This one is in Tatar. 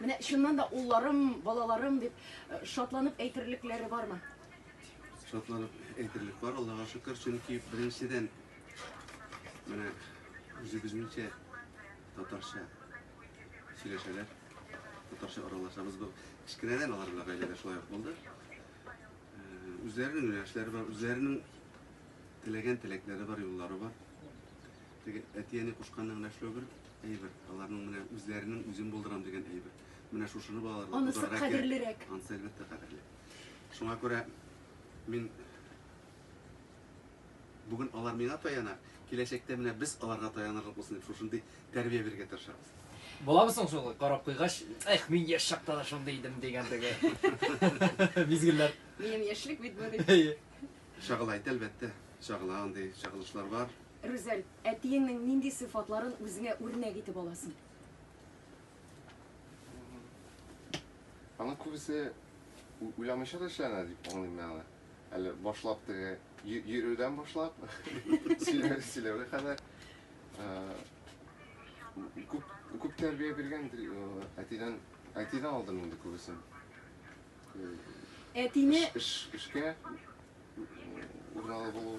Менә чыннан да улларым, балаларым дип шатланып әйтерлекләре бармы? Шатланып әйтерлек бар, Аллаһыга шөкер, чөнки беренчедән менә үзебезнеңчә татарча сөйләшәләр, татарча аралашабыз. Бу кечкенәдән алар белән гаиләдә шулай ук булды. Үзләренең юнәлешләре бар, үзләренең теләгән теләкләре бар, юллары бар. Теге әти-әни кушканны гына эшләү бер әйбер, аларның менә үзләренең үзен булдырам дигән әйбер. Менә шушыны балаларга Анысы булдырырга кирәк. кадерлерәк. Анысы әлбәттә кадерле. Шуңа күрә мин бүген алар миңа таяна, киләчәктә менә без аларга таянарлык булсын дип шушындый тәрбия бирергә тырышабыз. Буламы соң шул карап куйгач, эх, мин яшь чакта да шундый идем дигән теге мизгелләр. Минем яшьлек бит бу дип. Әйе. Чагыла ит, әлбәттә. Чагыла, андый чагылышлар бар. Рүзәл, әтиеңнең нинди сыйфатларын үзеңә үрнәк итеп аласың? Аның күбесе уйламыйча да эшләнә дип аңлыйм мин аны. Әле башлап теге йөрүдән башлап, сөйләүгә кадәр күп күп тәрбия биргән әтидән әтидән алдым инде күбесен. Әтине эшкә урналы булу